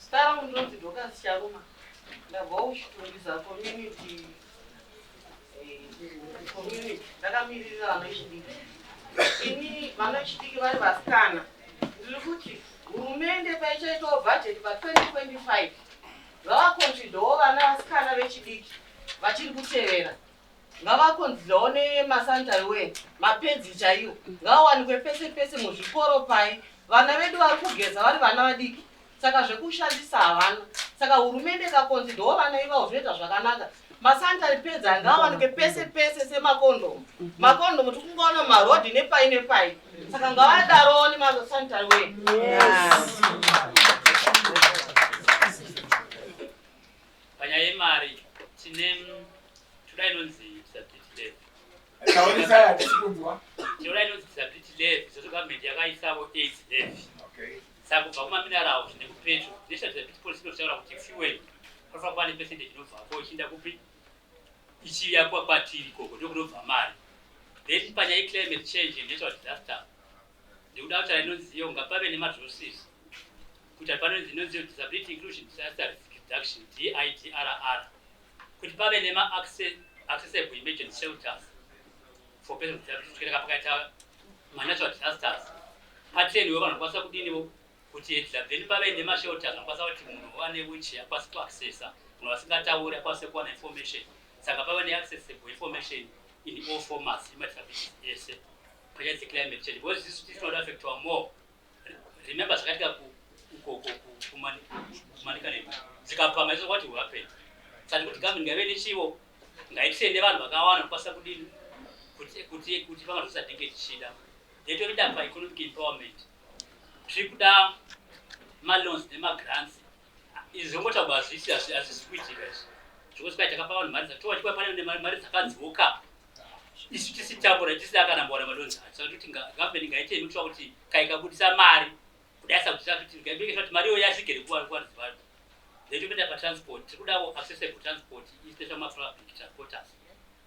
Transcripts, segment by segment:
Zita rangu ndinonzi Dorcas Charuma. Ndabva kuChitungwiza community eh, community ndakamiririra vana vechidiki. Ini vana vechidiki vari vasikana. Ndiri kuti hurumende paichaitawo bhajeti pa 2025 vavakonzvidhawo vana vasikana vechidiki vachiri kutevera Ngavakonzirewo nemaSanta iwe mapenzi chaiwo ngawawanikwe pese pese muzvikoro paye vana vedu vari kugeza vari vana vadiki saka zvekushandisa havana saka hurumende ikakonzi ndiwo vana ivawo zvinoita zvakanaka maSanta ripedza ngawawanikwe pese pese semakondomu makondomu tikungaona marodhi nepai nepai saka ngavadarowo nemaSanta iwe yes. Panyaya yemari tine toda inonzi disability levy. Taurisa hatisi kunzwa. Toda inonzi disability levy sezvo government yakaisawo aids levy. Okay. Saka kubva kumaminerals nekupetro national disability policy inotaura kuti fuel panofanira kuva nepercentage inobvapo ichiinda kupi ichiuya kwatiri ikoko ndokunobva mari then panyaya yeclimate change and natural disaster ndikuda kutaura inonziyo ngapave nemadrosses kuita panonzi inonzi disability inclusion disaster risk reduction DIDRR kuti pave nema accessible emergency shelters for persons with disability kuitira pakaita manatural disasters patreniwo vanhu vakwanisa kudiniwo kuti dzabveni pave nemashelters anokwanisa kuti munhu wane wichi akwanise kuaccessa munhu vasingatauri akwanise kuwana information saka pave neaccessible information in all formats emadisabilities ese panyaya dzeclimate change because isu tinoda affectwa more Remember zvakaitika ku ku ku ku kumani kumanika nemi. Zikapama izvo what will happen? Saka kuti government ngaive nechivo ngaitende vanhu vakawanda nokukwanisa kudini kuti kuti kuti pama zvose atinge tichida. Yetoida pa economic empowerment. Tiri kuda ma loans nema grants. Izvi zvongotaurwa hazvisi hazvisi kuitika izvi. Zvekuti kwai takapa vanhu mari dzatowa chikwa pane mari dzakadzoka isu tisitambura tisina kana mbora madonzi acho saka kuti gavheni ngaite inotiwa kuti kaikabudisa mari kudai sakuita kuti ngaibekesa kuti mari iyo yasvike rekuvanzi vanhu zvaitopinda patransport tiri kudawo accessible transport ispesha mapublic transporters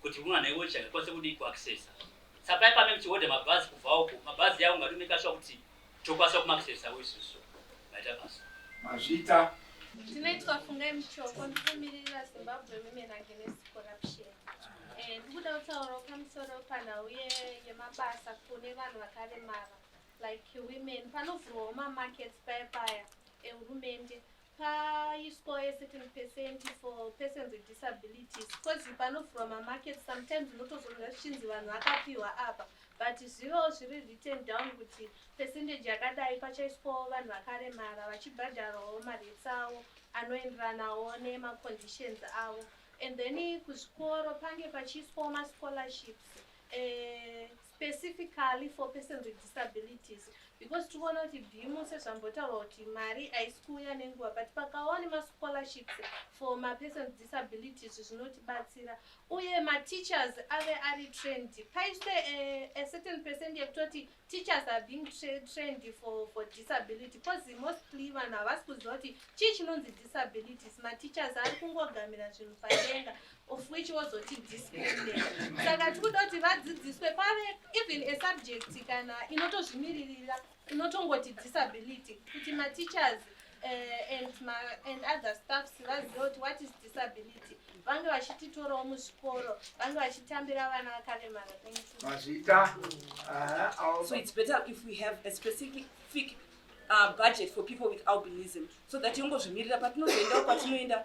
kuti munhu ana iwocha ngakwanise kudii kuaccessa sapai pame muchihodha mabhazi kubva uko mabhazi yavo ngatomekashuwa kuti Tokwanisa kumakisesawo isusu maita basa. Mazvita. Ndinoitwa Fungai Muchoko ndikumirira Zimbabwe Women Against Corruption. Eh, ndikuda kutaura pamusoro panhau yemabasa kune vanhu vakaremara like women. Panovhurwawo mamarkets paya paya ehurumende paiswawo a certain percent for persons with disabilities because panovhurwa mamarket sometimes unotozonga zvichinzi vanhu vakapiwa apa but zvivewo zviri written down kuti percentage yakadai pachaiswawo vanhu vakaremara vachibhadharawo mareits avo anoenderanawo nemaconditions avo and then kuzvikoro pange pachiiswawo mascholarship eh, specifically for persons with disabilities because tikuona kuti bimu sezvambotaurwa kuti mari haisi kuuya nenguva but pakawa nemascholarships for mapersons with disabilities zvinotibatsira uye mateachers ave ari trend paiswe eh, a certain percent yekutoti teachers are being tra trained for, for disability because mostly vanhu havasi kuziva kuti chii chinonzi disabilities mateachers ari kungogamira zvinhu padenga of which wozoti discipline saka tikuda kuti vadzidziswe pave even a subject kana inotozvimiririra inotongoti disability kuti mateachers uh, and, ma, and other staffs vazive kuti what is disability vange vachititorawo muzvikoro vange vachitambira vana vakaremara vazviita uh, so it's better if we have a specific uh, budget for people with albinism so that yongozvimirira patinozoendawo kwatinoenda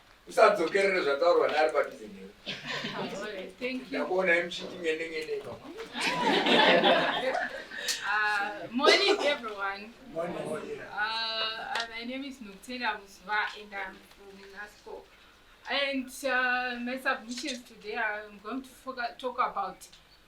usadzokerere zvataurwa naari padhuze newe ndakuona imuchiti ngende ngende ipapa Uh, morning, everyone. Morning. Uh, uh, my name is Nutela Musva, and I'm from NASCO. And uh, my submissions today, I'm going to talk about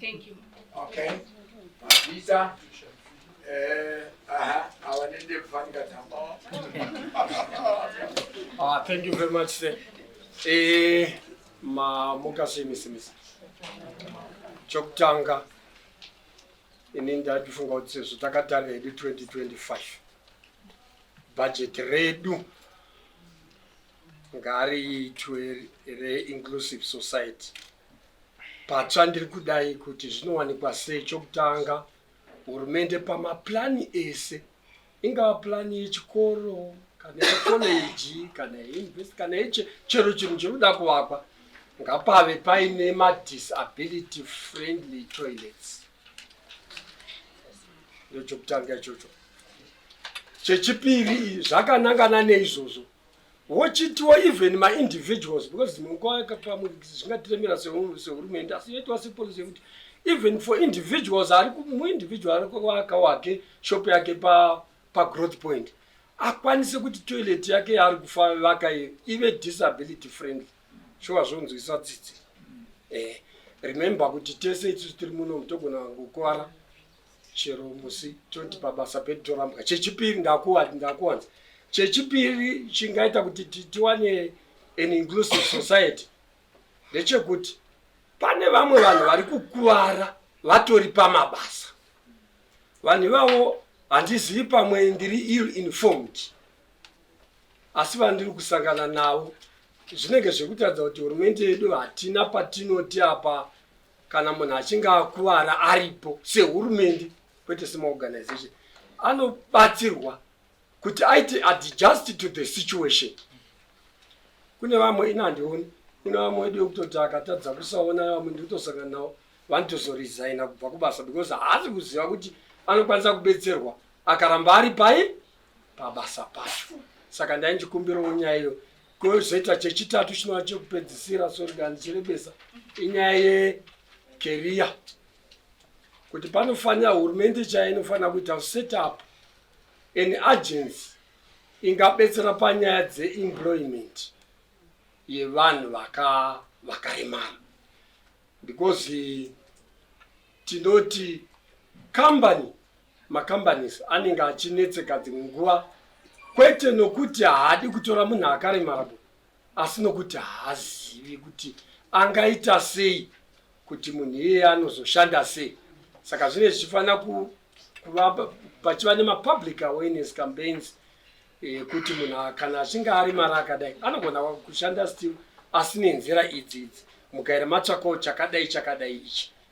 Thank you. Okay. Mabhiza. Eh, aha, awa nende kufanga tamba. Ah, thank you very much. Sir. Eh, ma mukasi misimisa. Chokutanga ini ndatifunga kuti sezvo takatarira hedu 2025 bhajeti redu ngariitwe reinclusive society patsva ndiri kudai kuti zvinowanikwa sei chokutanga hurumende pamapurani ese ingava purani yechikoro kana yekoleji kana yeinvest kana yeche chero chinhu chiri kuda kuvakwa ngapave paine madisability friendly toilets ndochokutanga ichocho chechipiri zvakanangana neizvozvo wochitiwo even maindividuals because dzimwe nguva yakapamwe zvingatiremera sehurumende asi yoitiwa sepolicy yekuti even for individuals ari muindividual ari kuaka wake shop yake pagrowth point akwanise kuti toilet yake yaari kufavaka iyo ive disability friendly shuwa zvonzwisa tsitsi eh, remember kuti tese itusu tiri muno mutogona kukuvara chero musi toti pabasa pedu torambwa chechipiri ndakuwanza chechipiri chingaita kuti tiwane an inclusive society ndechekuti pane vamwe vanhu vari kukuvara vatori pamabasa vanhu ivavo handizivi pamwe ndiri ill informed asi vandiri kusangana navo zvinenge zvekutaridza kuti hurumende yedu hatina patinoti apa kana munhu achinge akuvara aripo sehurumende kwete semaorganization anobatsirwa kuti aite adjust to the situation kune vamwe ini handioni kune vamwe wedu yekutoti akatadza kusaona vamwe ndikutosangana navo vanotozoresigna kubva kubasa because haasi kuziva kuti anokwanisa kubetserwa akaramba ari pai pabasa pacho saka ndainjikumbirawo nyaya iyo Kozoita chechitatu chinova chekupedzisira sori kana ndichirebesa inyaya yekeriya kuti panofanira hurumende chaya inofanira kuita set up an agency ingabetsera panyaya dzeemployment yevanhu vakaremara because tinoti company macompanies anenge achinetseka dzimwe nguva kwete nokuti haadi kutora munhu akaremara bo asi nokuti haazivi kuti angaita sei kuti munhu iyeye anozoshanda sei saka zvinenge zvichifanira kuva pachiva nemapublic awareness campaigns yekuti eh, munhu kana achinge ari mari akadai anogona kushanda still asi nenzira idzi idzi mukaira matsvakawo chakadai chakadai ichi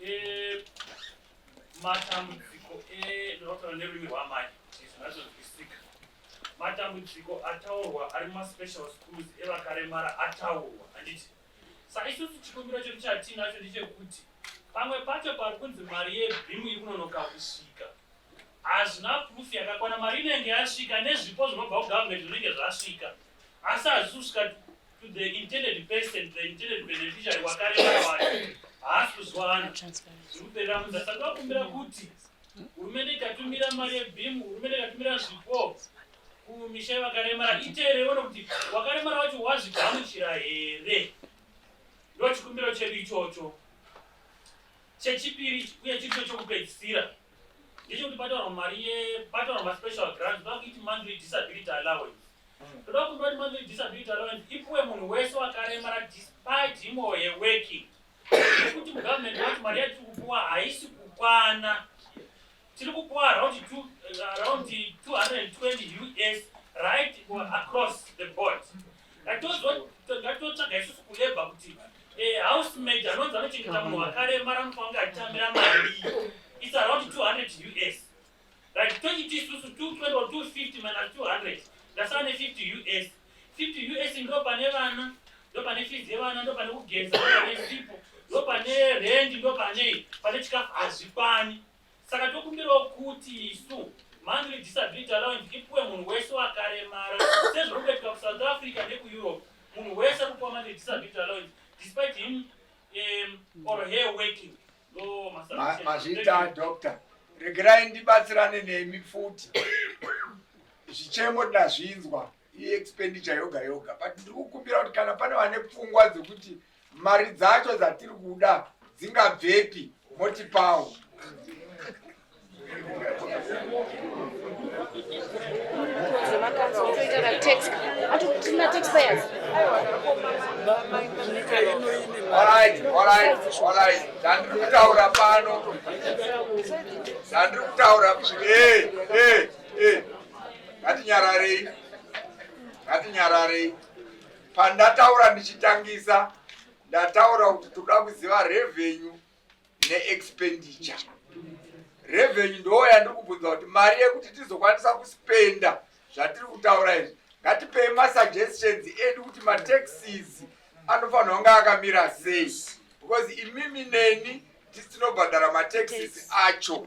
Eh, matambudziko endinotaura eh, nerurimi rwamai zvinazonzwisika matambudziko ataurwa ari mumaspecial schools evakaremara ataurwa handiti saka isusu chikumbiro chedu chatiinacho ndechekuti pamwe pacho pari kunzi mari yebhimu iri kunonoka kusvika hazvina proof yakakwana mari inenge yasvika nezvipo zvinobva kugovernment zvinenge zvasvika asi hazvisi kusvika to the intended person the intended beneficiary wakareva wacho haasi kuzwana zvikuperera munhu asati wakumbira kuti hurumende ikatumira mari yebim hurumende ikatumira zvipo kumisha yevakaremara iteerewo nokuti wakaremara wacho wazvigamuchira here ndo chikumbiro chedu ichocho chechipiri uye chiricho chokupedzisira ndicho kuti pataurwa mari ye pataurwa maspecial grants toda kuiti monthly disability allowance hmm. toda kumbira kuti monthly disability allowance ipuwe munhu wese wakaremara despite him or her working nekuti mugovernment wacho mari yatiri kupuwa haisi kukwana tiri kupuwa around 220 us right across the board ngatotsvaga isusu kulebha kuti Eh, house maid anonzi anochengeta munhu wakaremara anofanira kunge achitamira mari its around 200 us right tochiti isusu 220 or 250 minus 200 ndasara ne50 us 50 us ndo pane vana ndo pane fees yevana ndo pane kugeza ndo pane sipo ndo pane rendi ndo panei pane chikafu hazvikwani Saka tokumbirawo kuti isu monthly disability allowance ipuwe munhu wese wakaremara sezviri kuitika kusouth africa nekueurope munhu wese kupuwa monthly disability allowance despite him um, or her working mazvita doctor regerai ndibatsirane nemi futi zvichemo tinazvinzwa iexpenditure yoga yoga but ndiri kukumbira kuti kana pane vane pfungwa dzekuti mari dzacho dzatiri kuda dzingabvepi motipawo zvandirikutaura pano zvandirikutaura Eh, ngatinyararei, ngatinyararei. Pandataura ndichitangisa, ndataura kuti toda kuziva revenue neexpenditure. Revenue ndoo yandiri kubvunza kuti mari yekuti tizokwanisa kuspenda zvatiri kutaura izvi. Ngatipei masuggestions edu kuti mataxes anofanirwa kunge akamira sei because imimi neni tisinobhadhara mataxes acho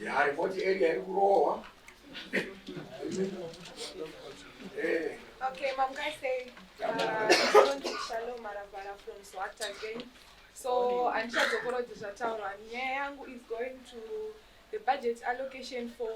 Yaripoti area iri kurohwa. Eh. Okay, mom guys say uh, Shalom Marabara from Swat again. So andichadzokorodza zvataurwa nyaya yangu is going to the budget allocation for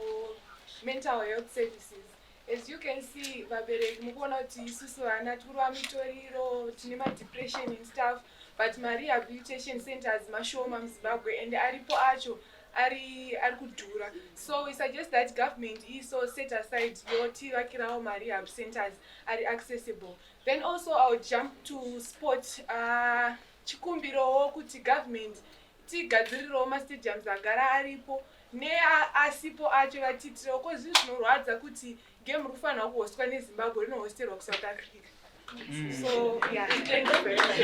mental health services As you can see vabereki mukuona kuti isusu vana tikurova mitoriro tine madepression and stuff but marehabilitation centers mashoma muzimbabwe and aripo acho ari ari kudhura so we suggest that government iso set aside yotivakirawo marehab centers ari accessible then also iwill jump to sport uh, chikumbirowo kuti government Tigadzirirewo mastadiums agara aripo neasipo acho vatiitirewo ko zvinhu zvinorwadza kuti game riri kufanirwa kuhostwa nezimbabwe rinohosterwa kusouth africa Mm. So, yeah, thank you very much.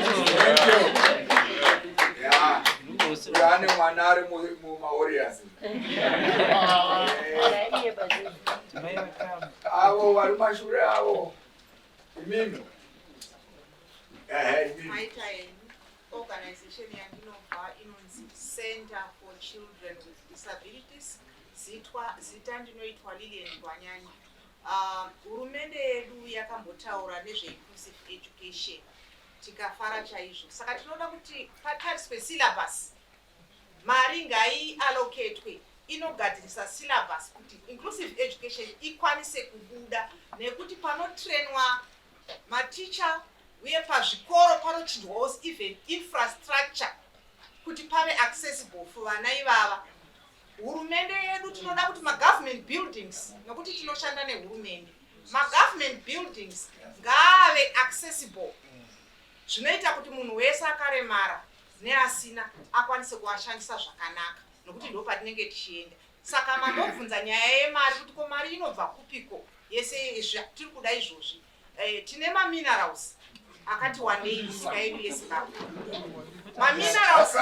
Yaani mwanari mu maorias. Avo vari mashure avo. Imimi. Eh, imimi. Organization yandinobva inonzi Center for Children with Disabilities zitwa zita ndinoitwa Lilian Gwanyanya. Uh, hurumende uh, yedu yakambotaura nezveinclusive education tikafara chaizvo saka tinoda kuti patariswe syllabus mari ngai allocatwe inogadzirisa syllabus kuti inclusive education ikwanise kubuda nekuti panotrainwa maticha uye pazvikoro panochinjwawo even infrastructure kuti pave accessible for vana ivava hurumende yedu tinoda kuti magovernment buildings nokuti tinoshanda nehurumende magovernment buildings ngaave accessible zvinoita kuti munhu wese akaremara neasina akwanise kuashandisa zvakanaka nokuti ndo patinenge tichienda saka mambobvunza nyaya yemari kuti ko mari inobva kupiko yese izvi tiri kuda izvozvi eh, tine maminerals akati wandei misika yedu yezimbabwe maminerals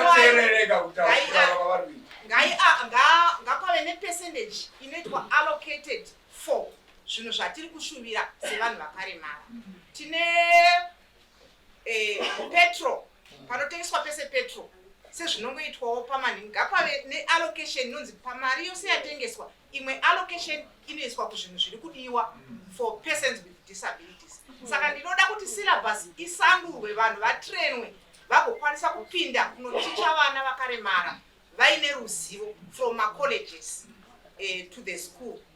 ngapave nepercentage inoitwa allocated for zvinhu zvatiri kushuvira sevanhu vakaremara tine eh, petrol panotengeswa pese petrol sezvinongoitwawo pamani ngapave neallocation inonzi pamari yose yatengeswa imwe allocation inoiswa kuzvinhu zviri kudiwa for persons with disabilities saka ndinoda kuti syllabus isandurwe vanhu vatrenwe vagokwanisa kupinda kunoticha vana vakaremara vaine ruzivo from macolleges uh, to the school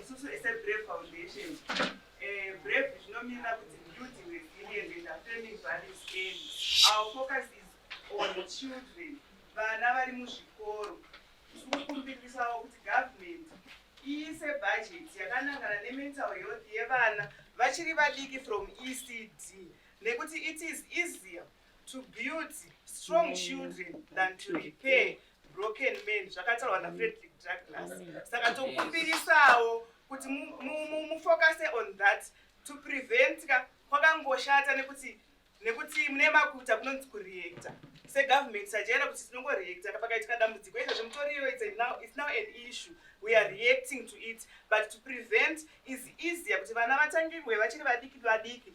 Isusu seBrave Foundation, eh, Brave zvinomirira kuti youth were brilliant and affirming values and our focus is on children, vana vari muzvikoro. Tiri kukumbirisawo kuti government iise budget yakanangana nemental health yevana vachiri vadiki from ECD nekuti it is easier to build strong children than to repair broken man zvakataurwa nafredrick draglas saka tokumbirisawo kuti mufocuse on that to prevent ka kwakangoshata nekuti nekuti mune makuta kunonzi kureacta segovernment sajaira kuti tinongoreacta kapakaitika dambudziko izvo zvemutoriyo is now an issue we are reacting to it but to prevent is easier kuti vana vatangirwe vachiri vadiki vadiki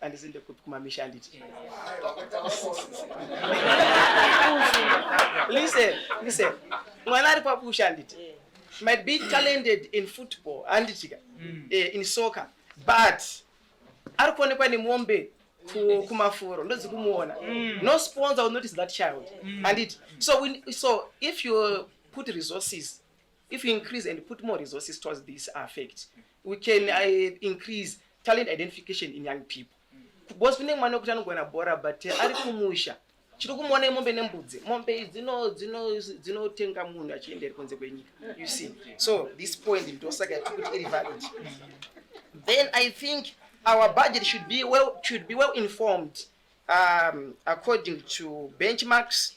andisinde kupi kumamisha anditi listen listen mwana ari papusha anditi might be talented in football anditika mm. eh, in soccer but ari kuonekwa nemombe kumafuro ndozi kumuona mm. no sponsor will notice that child mm. anditi so, so if you put resources If you increase and put more resources towards this affect, we can uh, increase talent identification in young people. Because kune mwana wekuti anogona bhora but uh, ari kumusha chiri kumuona imombe nembudzi mombe dzinotenga munhu achienda iri kunze kwenyika you see so this point ndosaka yatikuti iri valid then i think our budget should be well, should be well informed um, according to benchmarks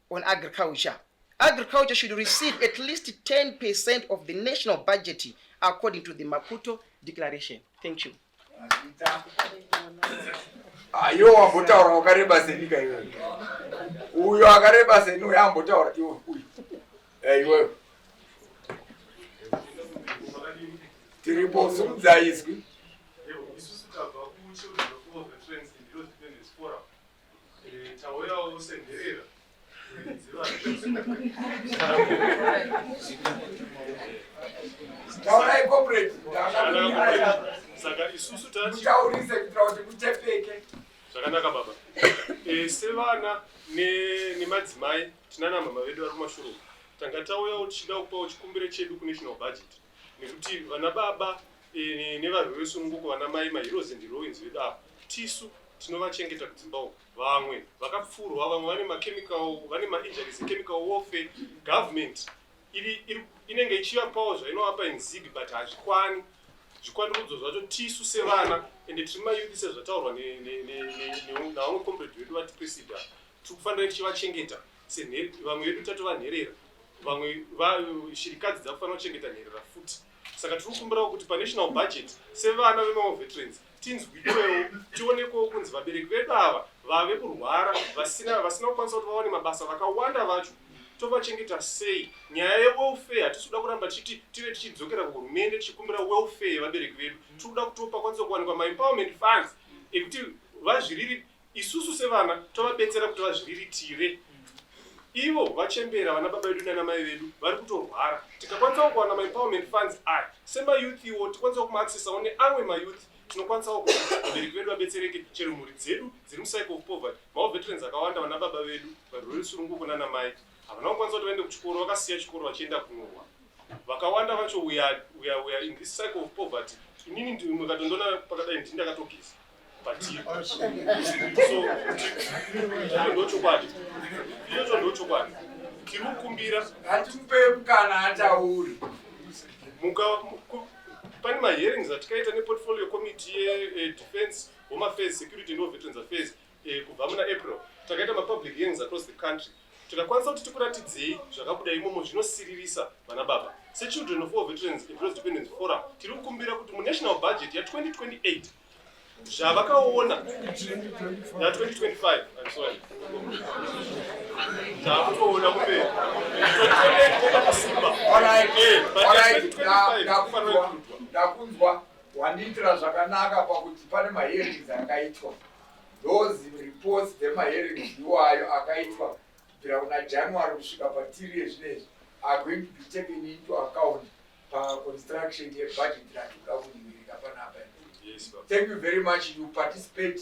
on agriculture agriculture should receive at least 10 percent of the national budget according to the maputo declaration thank you ayo wambotaura wakareba senyika iyoyo uyo akareba seni uyo ambotaura iwe uyu eh, iweyo tiripo sumudzaiswi Tauyawo senherera taurai corporate saka isusu tataurise kuitira kuti kutepeke zvakanaka baba e, sevana nemadzimai ne tinana mama vedu vari kumashuro tanga tauyawo tichida kupawo chikumbiro chedu kunational budget nekuti vana baba e, nevarwi vesununguko vana mai maheroes and heroines vedu ava tisu tinovachengeta kudzimba uko vamwe vakapfurwa vamwe vane machemical vane mainjuries echemical warfare government iri, iri inenge ichivapawo zvainovapa inzig but hazvikwani zvikwandurudzo zvacho tisu sevana ende tiri mayuthi sezvataurwa navamwe comrade vedu vati presida tiri kufanira tichivachengeta vamwe vedu tatovanherera vamwe shirikadzi dzakufanira kuchengeta nherera futi saka tiri kukumbirawo kuti panational budget sevana vemamwe veterans tinzwiwewo tionekwewo kunzi vabereki vedu ava vave kurwara vasina vasina kukwanisa kuti vawane mabasa vakawanda vacho tovachengeta sei nyaya yewelfare hatisi kuda kuramba tichiti tive tichidzokera kuhurumende tichikumbira welfare yevabereki vedu tiri kuda kuti pakwanisa kuwanikwa maempowerment funds ekuti vazviriri Isusu sevana tovabetsera kuti vazviriritire ivo vachembera vana baba vedu nana mai vedu vari kutorwara tikakwanisawo kuwana maempowerment funds aya semayouth iwo tikwanisawo kumaaccessawo neamwe mayouth tinokwanisawo kuti vabereki vedu vabetsereke chero mhuri dzedu dziri mucycle of poverty maoveterans akawanda vana baba vedu varwere rusununguko nana mai havana kukwanisa kuti vaende kuchikoro vakasiya chikoro vachienda kunohwa vakawanda vacho uya uya uya in this cycle of poverty inini ndimwe katondoona pakadai ndini ndakatogeza ndochokwadi izvozvo ndochokwadi tiri kukumbira hatimupe mukana atauri pane mahearings atikaita neportfolio committee yedefense eh, eh, home affairs security noveterans affairs eh, kubva muna april takaita mapublic hearings across the country tikakwanisa kuti tikuratidzei zvakabuda imomo zvinosiririsa vana baba sechildren of all veterans employees dependence forum tiri kukumbira kuti munational budget ya 2028 zvavakaona na 2025 I'm sorry takutoona kumberi ndakunzwa wandiitira zvakanaka pakuti pane mahearings akaitwa those reports dzemahearings iwayo akaitwa kubvira kuna January kusvika patiri yezvinezvi are going to be taken into account paconstruction yebudget ratikuda kuningirika panapa thank you very much you participate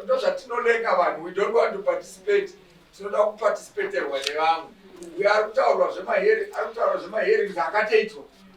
ndozvatinolenga vanhu we don't want to participate tinoda kuparticipaterwa nevamwe uyo ari kutaurwa zvemahere ari kutaurwa zvemahere akataitwa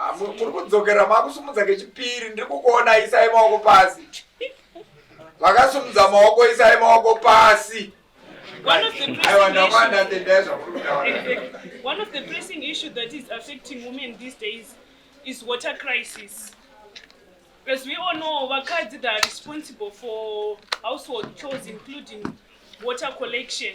Ah, muri kudzokera makusumudza kechipiri ndiri kukuona isai maoko pasi vakasumudza maoko isai maoko pasi one of the pressing issue that is affecting women these days is water crisis as we all know vakadzi that are responsible for household chores including water collection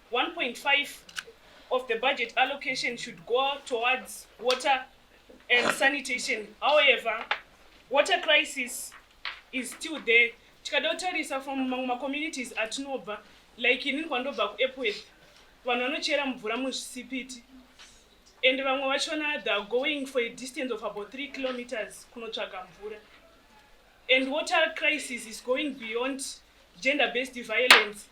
1.5 of the budget allocation should go towards water and sanitation however water crisis is still there tikada kutarisa from mamwe macommunities atinobva like inini kwandobva kuepworth vanhu vanochera mvura muzvisipiti and vamwe vachona the going for a distance of about three kilometers kunotsvaga mvura and water crisis is going beyond gender based violence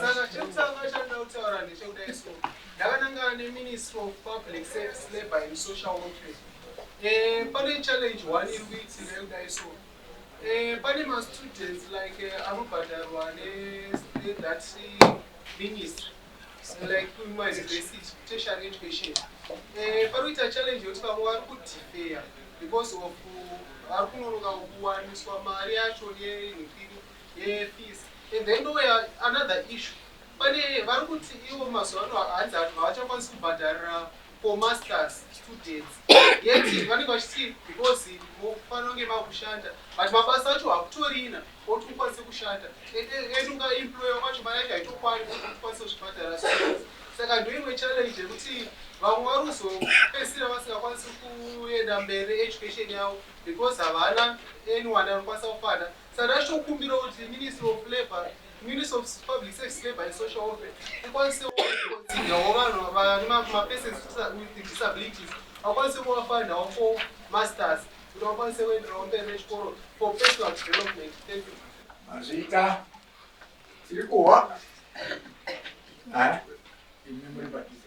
saka chekutanga chanda kutaura ndechekudai so ndakanangana neministry of public service labor and social welfare eh, pane challenge one iri kuitika yekudai so eh, pane mastudents like eh, anobhadharwa nethat ministry like kuma university tertiary education eh paruita challenge yoti vamwe vari kudifeya because of vari kunonoka kuwaniswa mari yacho yenhukiri yefees and then ndoya another issue pane vari kuti ivo mazuva ano hanzi vanhu havachakwanisi kubhadharira for masters students yet vanenge vachiti because mofanira kunge makushanda but mabasa acho hakutorina oti ukwanise kushanda and ukaemployer kwacho mari yacho haitokwani oti ukwanise kuzvibhadhara saka ndoimwe challenge yekuti vamwe vari kuzopedzisira vasingakwanisi kuenda mberi education yavo because havana anyone anokwanisa kufana Saka tichokumbira kuti ministry of labour ministry of public service labour and social welfare ikwanisewo kuconsiderawo vanhu vane mapersons with disabilities vakwanise kuvafandawo for masters kuti vakwanise kuenderawo mberi nechikoro for personal development thank you mazvita tiri kuhwa imi muri padhize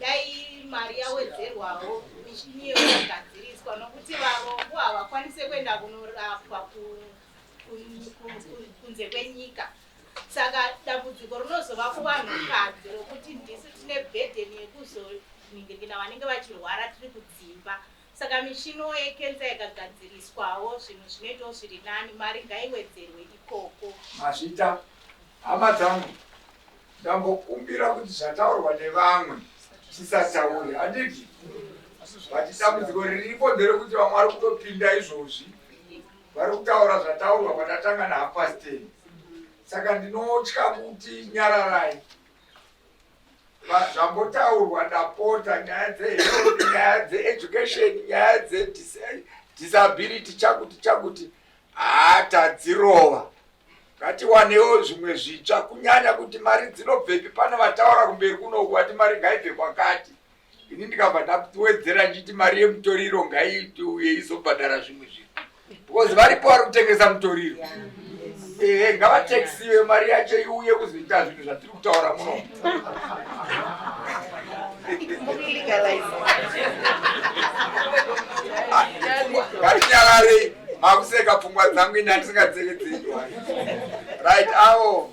Dai mari yawedzerwawo michini iyo yakagadziriswa nokuti varombo havakwanise kuenda kunorapwa kunze kwenyika saka dambudziko rinozova kuvanhukadzi rokuti ndisu tine bhedheni yekuzoningirikina vanenge vachirwara tiri kudzimba saka michino yekensa yakagadziriswawo zvinhu zvinoitawo zviri nani mari ngaiwedzerwe ikoko mazvita hama dzangu Ndambokumbira kuti zvataurwa nevamwe tisataure handiti? But dambudziko riripo nderekuti vamwe vari kutopinda izvozvi vari kutaura zvataurwa patatanga nahalf past ten. Saka ndinotya kuti nyararai Va- zvambotaurwa ndapota nyaya dzehealth nyaya dzeeducation nyaya dzedisability chakuti chakuti haa tadzirova ngatiwanewo zvimwe zvitsva kunyanya kuti mari dzinobvepi pane vataura kumberi kunoku vati mari ngaibve kwakati ini ndikabva ndawedzera ndichiti mari yemutoriro ngaiuye izobhadhara zvimwe zvinhu because varipo vari kutengesa mutoriro ehe ngavatekisiwe mari yacho iuye kuzoita zvinhu zvatiri kutaura munomu Katinyararei makuseka pfungwa dzangu ini handisingadzevedzendi right awo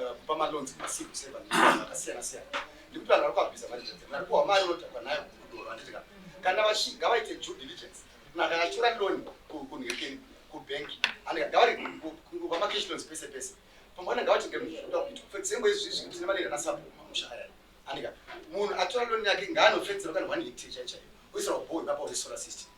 eh, kupa malonzi masiku seva akasiyana siyana nekuti vanhu vari kuabhiza mari zvenze mari kuwa mari unodhakwa nayo kudoro handitika kana vashiga vaite due diligence kuna kana chura loni kunhekeni kubhengi andika gavari kwamakeshi lonzi pese pese pamwe anenge avatenge muzvinoda kuitwa for example izvi izvi tine mari irana sapo mamusha aya andika munhu atora loni yake ngaanofenzera kana one hectare chaichaiyo oisira bhoo ipapo resolar system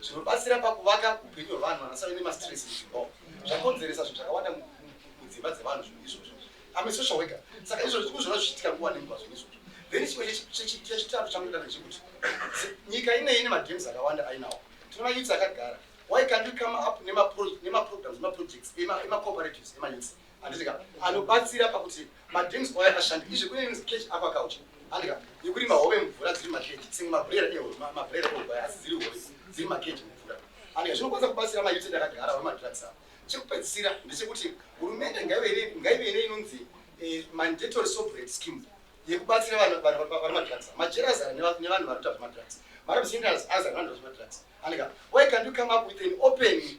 zvinobatsira pakuvaka upenyu hwevanhu vanasave nemastress mudzimba zvakonzeresa zvinhu zvakawanda mudzimba dzevanhu zvinhu izvozvo ame social worker saka izvozvo tikuzviona zvichiitika nguva nenguva zvinhu izvozvo then chimwe chechitatu changoita ndechekuti nyika ine ine madreams akawanda ainawo tine mayouths akagara why can't we come up nemaprograms nemaprojects emacooperatives emayouths handika anobatsira pakuti madrinks kwaya akashanda izvi kune imwe sketch apa kauchi handika yekuri mahove mvura dziri makeji senge mabrera mabrera eugwaya asi dziri hove dziri makeji mvura handika zvinokwanisa kubatsira mayuti ndakagara vamadrugs ava chekupedzisira ndechekuti hurumende ngaive ine inonzi eh, mandatory sovereign scheme yekubatsira vanhu vari madrugs majera azara nevanhu vari kuta zvemadrugs marabsinders azara nevanhu vari zvemadrugs handika why can't you come up with an open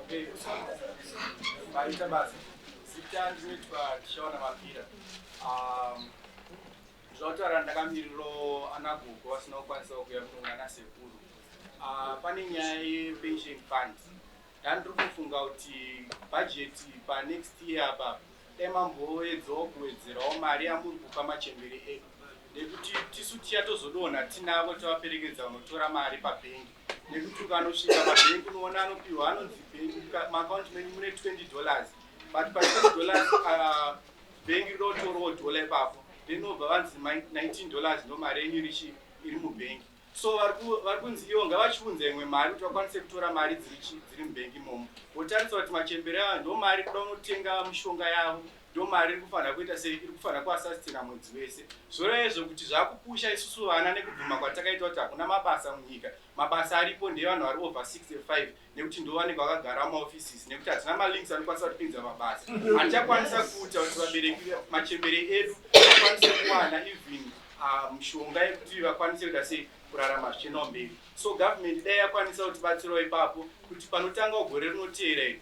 Okay, vaita basa. Zita ndinoitwa Tishaona Mapira. Um, zvataura ndakamiriro ana gogo vasina kukwanisa kuuya kuno nana sekuru. Uh, pane nyaya yepension fund. Ndandiri kufunga kuti budget pa next year apa emamboedzawo kuwedzerawo mari yamuri kupa machembere edu nekuti tisu tiya tozodonha tinavo tavaperekedza unotora mari pabhengi nekuti ukanosvika mabank unoona anopihwa anonzi bank maaccount menyu mune 20 dollars but pa 20 dollars uh, bank rinotorawo dollar ipapo then obva vanzi 19 dollars ndo mari yenyu richi iri mubank so vari kunzi ivo ngavachiunza imwe mari kuti vakwanise kutora mari dziri mubank imomo votarisa kuti machembere aya ndo mari kuda unotenga mishonga yavo Ndo mari iri kufanira kuita sei iri kufanira kuasastina mwedzi wese zvoreva izvo kuti zvakupusha isusu vana nekubvuma kwatakaitwa kuti hakuna mabasa munyika mabasa aripo ndeevanhu vari over 65 nekuti ndovanenge vakagara mumaoffices nekuti hatina malinks anokwanisa kutipinza mabasa hatichakwanisa kuuta kuti vabereki machembere edu akwanise kuwana even ah, mushonga um, yekuti vakwanise kuita sei kurarama zvichinawo mberi so government dai yakwanisa kutibatsirawo ipapo kuti panotanga gore rinoteera iri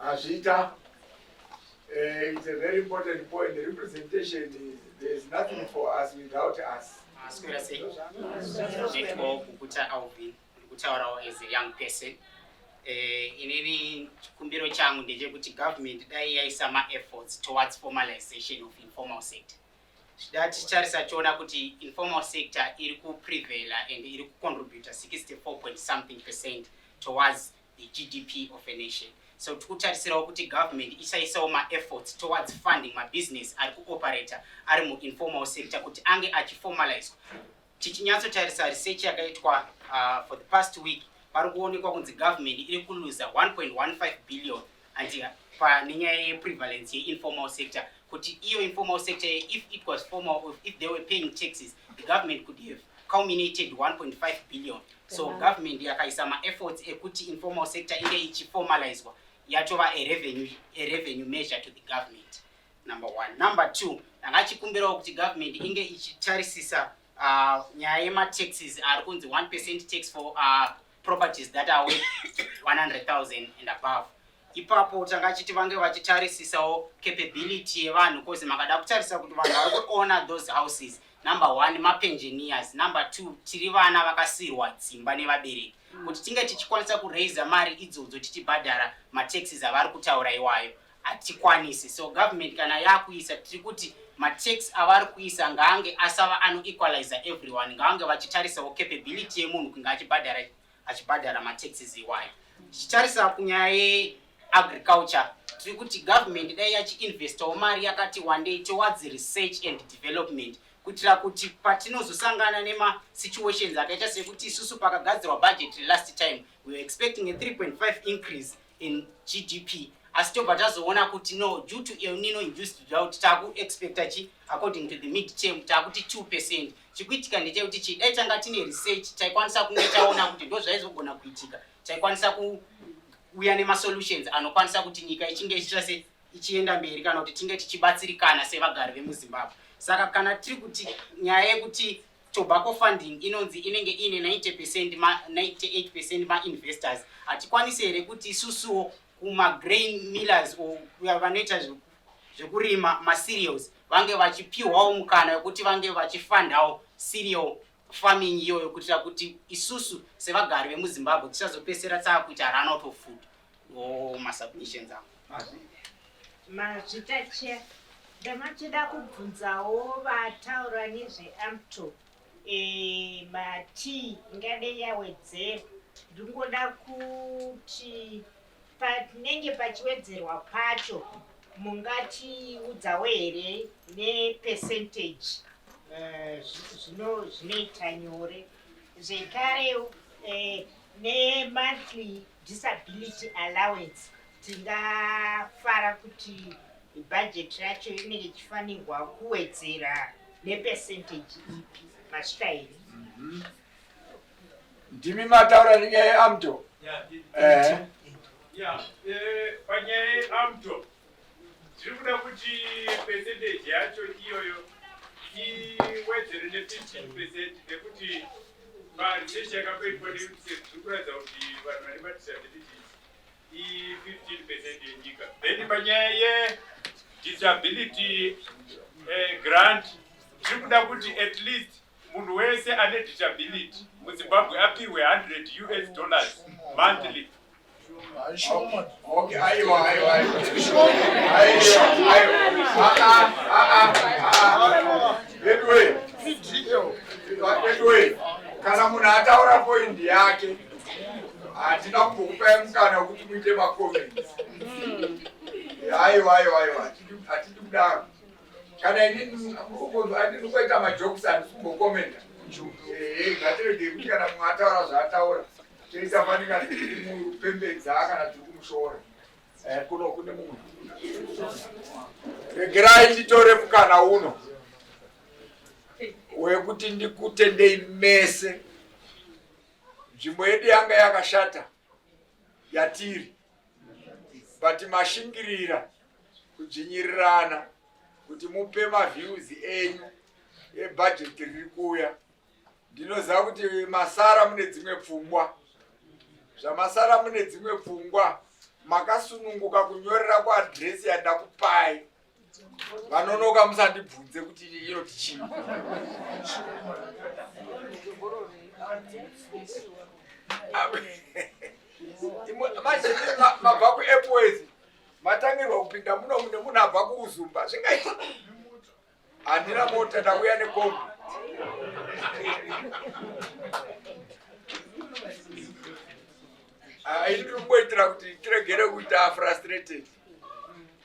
Azvita. Uh, it's a very important point. The representation is there's nothing for us without us. Asikura sei? Nditwo kukuta Alvin, ndikutaurawo as a young person. Eh, inini chikumbiro changu ndechekuti government dai yaisa maefforts towards formalization of informal sector zvida ticharisa tiona kuti informal sector iri kuprevela and iri kucontributa 64 point something percent towards the GDP of a nation. So tikutarisirawo kuti government isaisawo maefforts towards funding mabusiness ari kuoperator ari muinformal sector kuti ange achiformalizwa. Tichinyatsotarisa research yakaitwa uh, for the past week pari kuonekwa kunzi government iri kuluza 1.15 billion hanzi pane nyaya yeprevalence yeinformal sector kuti iyo informal sector if it was formal or if they were paying taxes the government could have culminated 1.5 billion so yeah. government yakaisa maefforts ekuti informal sector inge ichiformalizwa yatova a revenue, a revenue measure to the government number one number two ndanga chikumbirawo kuti government inge ichitarisisa uh, nyaya yemataxes ari kunzi 1 percent tax for uh, properties that are worth 100,000 and above ipapo tanga chiti vange vachitarisisawo capability yevanhu cause makada kutarisa kuti vanhu vari kuona those houses number one mapenjeniers number two tiri vana vakasirwa dzimba nevabereki kuti tinge tichikwanisa kuraiza mari idzodzo tichibhadhara mataxes avari kutaura iwayo hatikwanisi so government kana yakuisa tiri kuti matax avari kuisa ngaange asava anoequalizer everyone ngaange vachitarisawo capability yemunhu kunge achibhadhara achibhadhara mataxes iwayo tichitarisa kunyaya yeagriculture tiri kuti government dai yachiinvestawo mari yakati wandei towards research and development kuitira kuti patinozosangana nemasituations akaita sekuti isusu pakagadzirwa budget last time weare expecting a 3.5 increase in gdp asi tobva tazoona kuti no due to el nino induced drought taakuexpecta chi according to the mid term taakuti two percent chikuitika ndechekuti chi dai tanga tine research taikwanisa kunge taona kuti ndo zvaizogona kuitika taikwanisa kuuya nemasolutions anokwanisa kuti nyika ichinge ichiita se ichienda mberi kana kuti tinge tichibatsirikana sevagari vemuzimbabwe saka kana tiri kuti nyaya yekuti Tobacco funding inonzi inenge iine 90 percent ma 98 percent ma investors hatikwanise here kuti isusuwo kuma grain millers or vanoita zvekurima ma cereals vange vachipiwawo mukana wekuti vange vachifandawo cereal farming iyoyo kuitira kuti isusu sevagari vemuzimbabwe tisazopesera tsakuita runout of food or masubmissions avo Mazvita chair ndamachida kubvunzawo vataura nezveamto eh, matii ingade yawedzera ndingoda kuti panenge pachiwedzerwa pacho mungatiudzawo here nepercentage eh, zvinoita nyore zvekare eh, nemonthly disability allowance tingafara kuti bhajeti racho inenge ichifanirwa kuwedzera nepercentage ipi masvika here mhm. ndimi mataura nenyaya yeamto eh. eh, panyaya yeamto Tiri kuda kuti percentage yacho iyoyo iwedzere ne 15 percent nekuti paresearch yakapeitwa neunicef tiri kuratidza kuti vanhu vane madisabilities i 15 percent yenyika then panyaya ye disability eh, grant tiri kuda kuti at least munhu wese ane disability muzimbabwe apihwe 100 us dollars monthly kana munhu ataura poindi yake hatina kumbokupai mukana wekuti muite makomenti aiwa aiwa aiwa hatidi kudaro kana inini ndinokuita majokes handisi kumbokomenta ngatirege kuti kana mumwe ataura zvaataura teisafanika kumupembedza kana tiri kumushora eh, kuno kune munhu regerai nditore mukana uno wekuti ndikutendei mese nzvimbo yedu yanga yakashata yatiri but mashingirira kudzvinyirirana kuti mupe maviews enyu ebhajeti riri kuuya ndinoziva kuti masara mune dzimwe pfungwa zvamasara mune dzimwe pfungwa makasununguka kunyorera kuadresi yandakupai vanonoka musandibvunze kuti inoti chii manje mabva kuairways matangirwa kupinda muno mune munhu abva kuuzumba zvingaiti Andina mota ndauya nekombi. Ah, ini ndikuitira kuti tiregere kuita frustrated.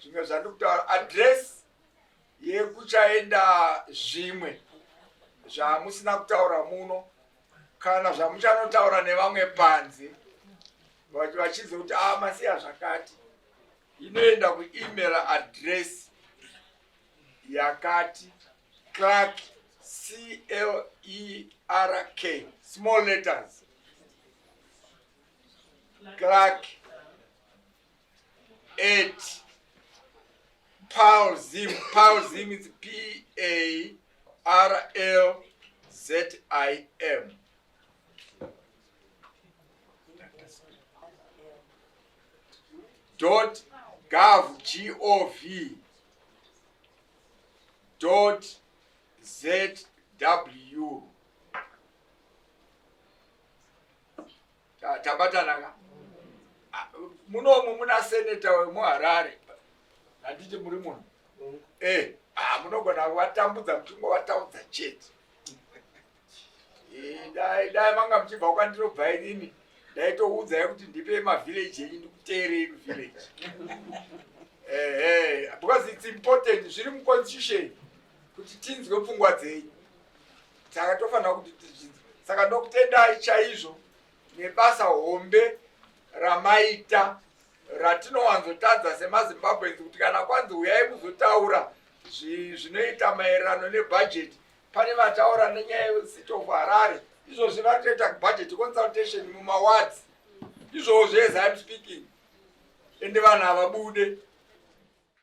Zvimwe zvandikutaura address yekuchaenda zvimwe zvamusina kutaura muno kana zvamuchanotaura nevamwe panze vachidze kuti a ah, masiya zvakati inoenda kuemail address yakati clerk clerk small letters clerk at paul zim paul zim is p a r l z i m dot gov gov zw tabatana ka munomu muna seneta wemuharare handiti muri munhu eh, ah, munogona kuvatambudza muchingo vataudza chete Eh, dai dai manga muchibva kwandirobva inini ndaitoudzai kuti ndipe mavillage enyu ndikuteerei kuvillage ehe because its important zviri muconstitution kuti tinzwe pfungwa dzenyu saka tofanira kuti tizvinzwe saka ndokutendai chaizvo nebasa hombe ramaita ratinowanzotadza semazimbabweans kuti kana kwanzi uyai muzotaura zvinoita maererano nebhajeti Pane vataura nenyaya yecity of Harare izvozvi vari kutoita budget consultation mumawards izvozvo as I'm speaking ende vanhu havabude